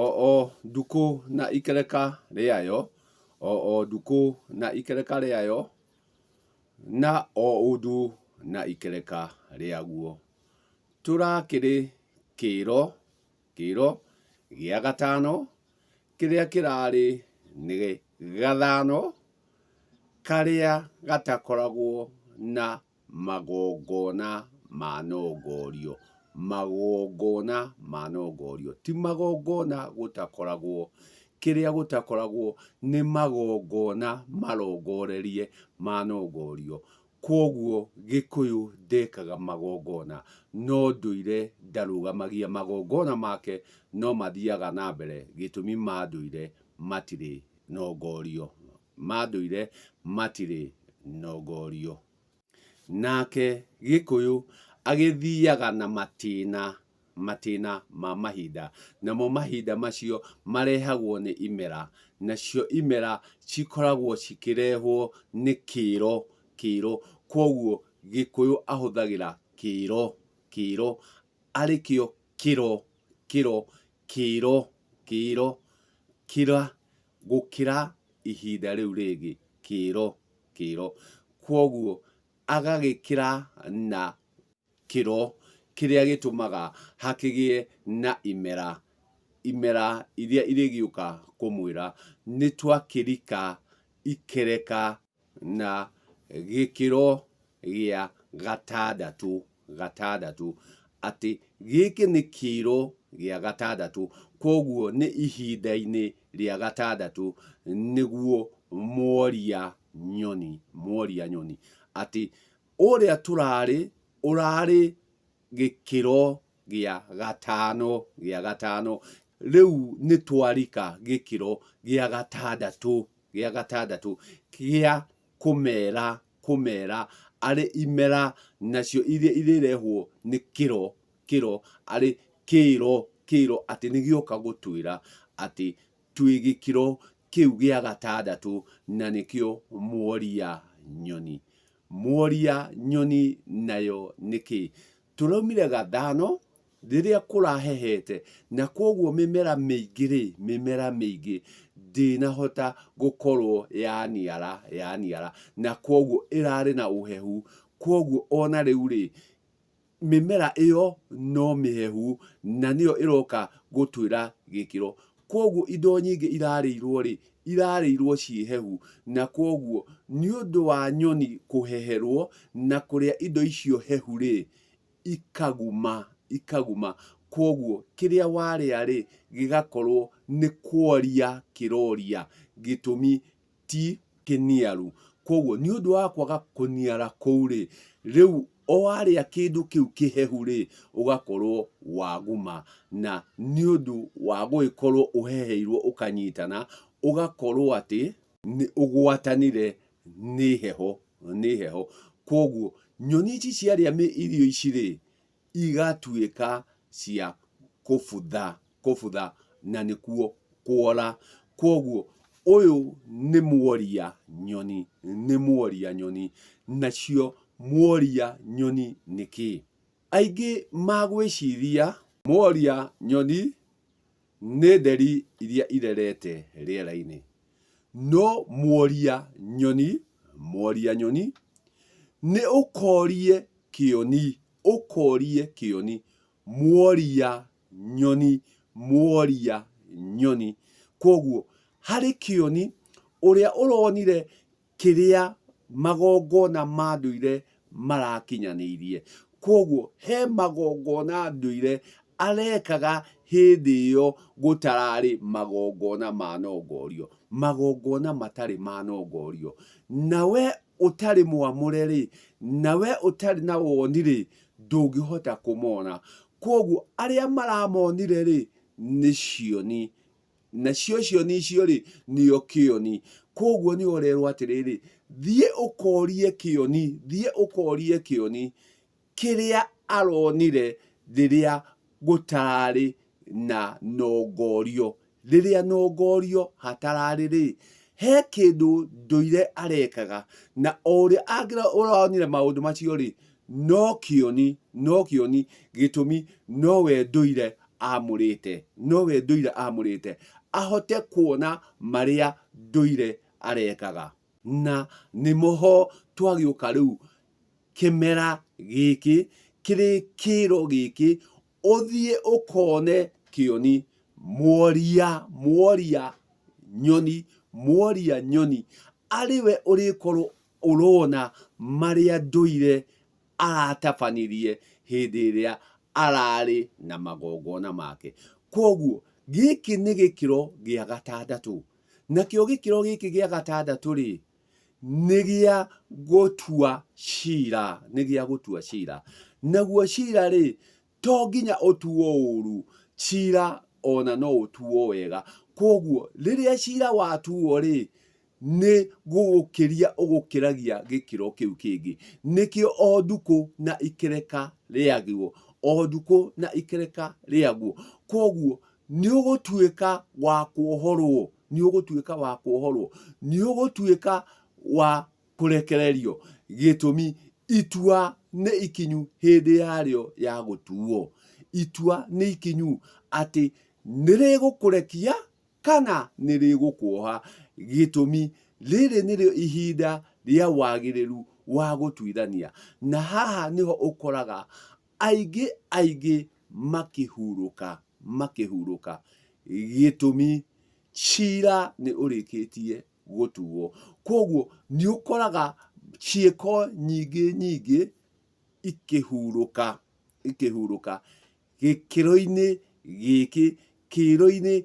O o ndukũ na ikereka rĩayo, o o ndukũ na ikereka rĩayo, na o ũndũ na ikereka rĩaguo. Tũrakĩrĩ kĩĩro, kĩĩro gĩa gatano, kĩrĩa kĩrarĩ nĩ gathano karĩa gatakoragwo na Magongona manongorio. Magongona manongorio. Ti magongona gũtakoragwo. Kĩrĩa gũtakoragwo nĩ magongona marongorerie manongorio. Kwoguo Gĩkũyũ ndekaga magongona. No ndũire ndarũgamagia magongona make no mathiaga na mbere gĩtũmi ma ndũire matirĩ nongorio. ma ndũire matirĩ nongorio. Nake Gĩkũyũ agĩthiaga na matĩna matĩna ma mahinda, namo mahinda macio marehagwo nĩ imera, nacio imera cikoragwo cikĩrehwo nĩ kĩĩro kĩĩro, kwoguo Gĩkũyũ ahũthagĩra kĩĩro kĩĩro, arĩkĩo kĩro kĩro kĩro, kĩro, kĩra, gũkĩra ihinda rĩu rĩngĩ, kĩro, kĩro. Kwoguo agagĩkĩra na kĩro kĩrĩa gĩtũmaga hakĩgĩe na imera, imera iria irĩgĩũka kũmwĩra nĩ twakĩrika ikereka. na gĩkĩro gĩa gatandatũ, gatandatũ, atĩ gĩkĩ nĩ kĩro gĩa gatandatũ, koguo nĩ ihinda-inĩ rĩa gatandatũ nĩguo mworia nyoni, mworia nyoni, atĩ ũrĩa tũrarĩ, ũrarĩ gĩkĩro gĩa gatano, gĩa gatano, rĩu nĩ twarika gĩkĩro gĩa gatandatũ, gĩa gatandatũ gĩa kũmera, kũmera arĩ imera nacio iria irĩrehwo nĩ kĩro, kĩro arĩ kĩro, kĩro atĩ nĩ gĩoka gũtwĩra atĩ twĩ gĩkĩro kĩu gĩa gatandatũ na nĩkĩo mworia nyoni. Mworia nyoni nayo nĩ kĩ? Tũraumire gathano rĩrĩa kũrahehete na kwoguo mĩmera mĩingĩ-rĩ, mĩmera mĩingĩ ndĩnahota gũkorwo yaniara, yaniara na kwoguo ĩrarĩ na ũhehu, kwoguo ona rĩu-rĩ, mĩmera ĩyo no mĩhehu na nĩyo ĩroka gũtwĩra gĩkĩro. Kwoguo indo nyingĩ irarĩirwo rĩ, irarĩirwo ciĩ hehu. Na kwoguo nĩ ũndũ wa nyoni kũheherwo na kũrĩa indo icio hehu rĩ, ikaguma, ikaguma. Kwoguo kĩrĩa warĩa rĩ, gĩgakorwo nĩ kworia kĩroria. Gĩtũmi ti kĩniaru. Kwoguo, nĩ ũndũ wa kwaga kũniara kũu-rĩ, rĩu o warĩa kĩndũ kĩu kĩhehu-rĩ, ũgakorwo waguma, na nĩ ũndũ wa gũgĩkorwo ũheheirwo ũkanyitana, ũgakorwo atĩ nĩ ũgwatanire nĩ heho, nĩ heho. Kwoguo, nyoni ici ciarĩa irio ici-rĩ, igatuĩka cia kũbutha, kũbutha na nĩkuo kũũra. Kwoguo ũyũ nĩ mworia nyoni, nĩ mworia nyoni. Nacio mworia nyoni nĩ kĩĩ? Aingĩ magwĩciria mworia nyoni Nĩ nderi iria irerete rĩera-inĩ. No mworia nyoni, mworia nyoni, nĩ ũkorie kĩoni, ũkorie kĩoni, mworia nyoni, mworia nyoni. Kwoguo harĩ kĩoni, ũrĩa ũronire kĩrĩa magongona ma ndũire marakinyanĩirie. Kwoguo he magongona ndũire arekaga hĩndĩ ĩyo gũtararĩ magongona manongorio, magongona matarĩ manongorio. Na we ũtarĩ mwamũre rĩ, na we ũtarĩ na woni rĩ, ndũngĩhota kũmona. Kwoguo arĩa maramonire rĩ, nĩ cioni nacio cioni icio-rĩ nĩo kĩoni koguo nĩ ũrerwo atĩrĩrĩ thiĩ ũkorie kĩoni thiĩ ũkorie kĩoni kĩrĩa aronire rĩrĩa gũtararĩ na nongorio rĩrĩa nongorio hatararĩ rĩ he kĩndũ ndũire arekaga na o ũrĩa ũronire maũndũ macio rĩ No kĩoni, no kĩoni, gĩtũmi no we ndũire amũrĩte, no we ndũire amũrĩte, ahote kuona marĩa ndũire arekaga. Na nĩmo ho twagĩũka rĩu kĩmera gĩkĩ, kĩrĩ kĩĩro gĩkĩ, ũthiĩ ũkone kĩoni, mworia, mworia nyoni, mworia nyoni, arĩ we ũrĩkorwo ũrona marĩa ndũire aratabanirie hĩndĩ ĩrĩa ararĩ na magongona make. Kwoguo, gĩkĩ nĩ gĩkĩro gĩa gatandatũ. Nakĩo gĩkĩro gĩkĩ gĩa gatandatũ-rĩ, nĩ gĩa gũtua cira, nĩ gĩa gũtua cira. Naguo cira-rĩ, To nginya ũtuwo ũũru, cira o na no ũtuwo wega. Kwoguo, rĩrĩa cira watuwo-rĩ, nĩ gũgũkĩria ũgũkĩragia gĩkĩro kĩu kĩngĩ. Nĩkĩo o ndukũ na ikereka rĩagwo, o ndukũ na ikereka rĩagwo. Kwoguo, nĩ ũgũtuĩka wa kwohorwo, nĩ ũgũtuĩka wa kwohorwo, nĩ ũgũtuĩka wa kũrekererio, gĩtũmi itua nĩ ikinyu hĩndĩ yarĩo ya gũtuo. Itua nĩ ikinyu atĩ nĩ rĩgũkũrekia kana nĩ rĩgũkuoha, gĩtũmi rĩrĩ nĩrĩo ihinda rĩa wagĩrĩru wa gũtuithania. Na haha nĩho ũkoraga aingĩ aingĩ makĩhurũka, makĩhurũka, gĩtũmi cira nĩ ũrĩkĩtie gũtuo. Kwoguo nĩ ũkoraga ciĩko nyingĩ nyingĩ ikĩhurũka, ikĩhurũka gĩkĩro-inĩ gĩkĩ, kĩro-inĩ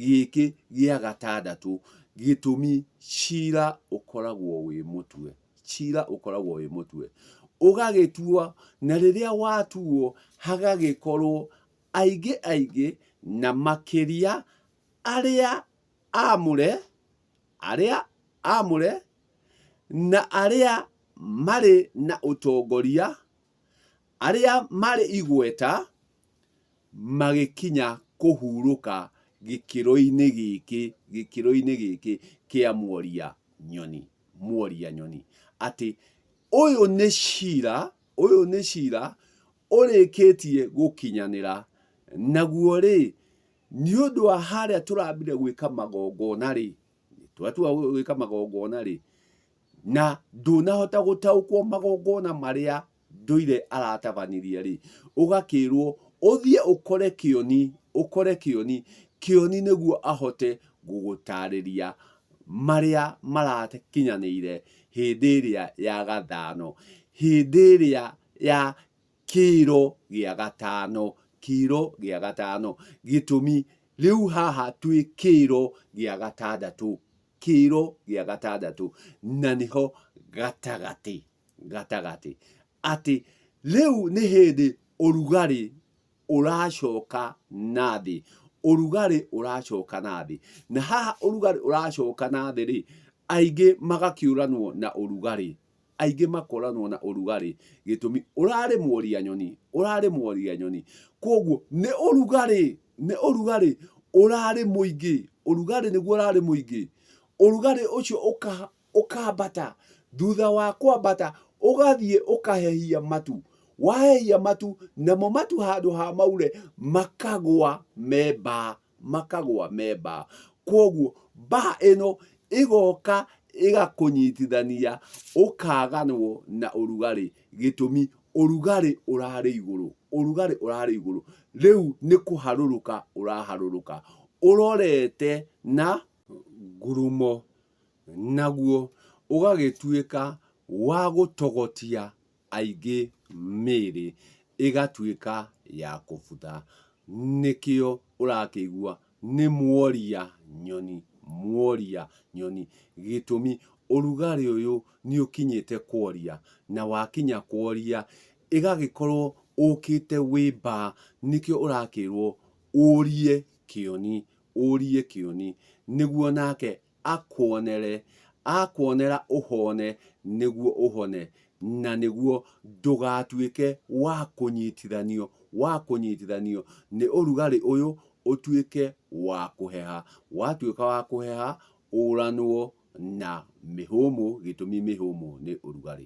gĩkĩ gĩa gatandatũ. Gĩtũmi cira ũkoragwo wĩ mũtwe, cira ũkoragwo wĩ mũtwe. Ũgagĩtuo, na rĩrĩa watuo hagagĩkorwo aingĩ aingĩ na makĩria arĩa aamũre, arĩa aamũre, na arĩa marĩ na ũtongoria, arĩa marĩ igweta, magĩkinya kũhurũka gĩkĩro-inĩ gĩkĩ, gĩkĩro-inĩ gĩkĩ kĩa mworia nyoni, mworia nyoni. Atĩ ũyũ nĩ cira, ũyũ nĩ cira ũrĩkĩtie gũkinyanĩra, naguo-rĩ, Nĩ ũndũ wa harĩa tũrambire gwĩka magongona-rĩ, twatua gwĩka magongona-rĩ, na ndũnahota gũtaũkwo magongona marĩa ndũire aratabanirie-rĩ, ũgakĩrwo ũthiĩ ũkore Kĩoni, ũkore Kĩoni, Kĩoni nĩguo ahote gũgũtarĩria marĩa marakinyanĩire hĩndĩ ĩrĩa ya gathano, hĩndĩ ĩrĩa ya kĩro gĩa gatano, kĩro gĩa gatano, gĩtũmi rĩu haha twĩ kĩro gĩa gatandatũ, kĩro gĩa gatandatũ, na nĩho gatagatĩ, gatagatĩ, atĩ rĩu nĩ hĩndĩ ũrugarĩ ũracoka nathĩ, ũrugarĩ ũracoka nathĩ, na haha ũrugarĩ ũracoka nathĩ rĩ, aingĩ magakĩũranwo na ũrugarĩ. aingĩ makoranwo na ũrugarĩ gĩtũmi ũrarĩ mworia nyoni ũrarĩ mworia nyoni koguo nĩ ũrugarĩ nĩ ũrugarĩ ũrarĩ mũingĩ ũrugarĩ nĩguo ũrarĩ mũingĩ ũrugarĩ ũcio ũka ũkambata thutha wa kwambata ũgathiĩ ũkahehia matu wahehia matu namo matu handũ ha maure makagwa me mbaa makagwa me baa. Kwoguo baa ĩno ĩgoka ĩgakũnyitithania ũkaganwo na ũrugarĩ gĩtũmi ũrugarĩ ũrarĩ igũrũ, ũrugarĩ ũrarĩ igũrũ. Rĩu nĩ kũharũrũka ũraharũrũka ũrorete na ngurumo. Naguo ũgagĩtuĩka wa gũtogotia aingĩ mĩĩrĩ ĩgatuĩka ya kũbutha. Nĩkĩo ũrakĩigua nĩ muoria nyoni, muoria nyoni. Gĩtũmi, ũrugarĩ ũyũ nĩ ũkinyĩte kuoria, na wakinya kuoria, ĩgagĩkorwo ũũkĩte wĩ mbaa, nĩkĩo ũrakĩrwo ũrie kĩoni, ũrie kĩoni, nĩguo nake akuonere, akuonera ũhone nĩguo ũhone, na nĩguo ndũgatuĩke wa kũnyitithanio, wa kũnyitithanio nĩ ũrugarĩ ũyũ ũtuĩke wa kũheha. Watuĩka wa kũheha ũranwo na mĩhũmũ gĩtũmi mĩhũmũ nĩ ũrugarĩ.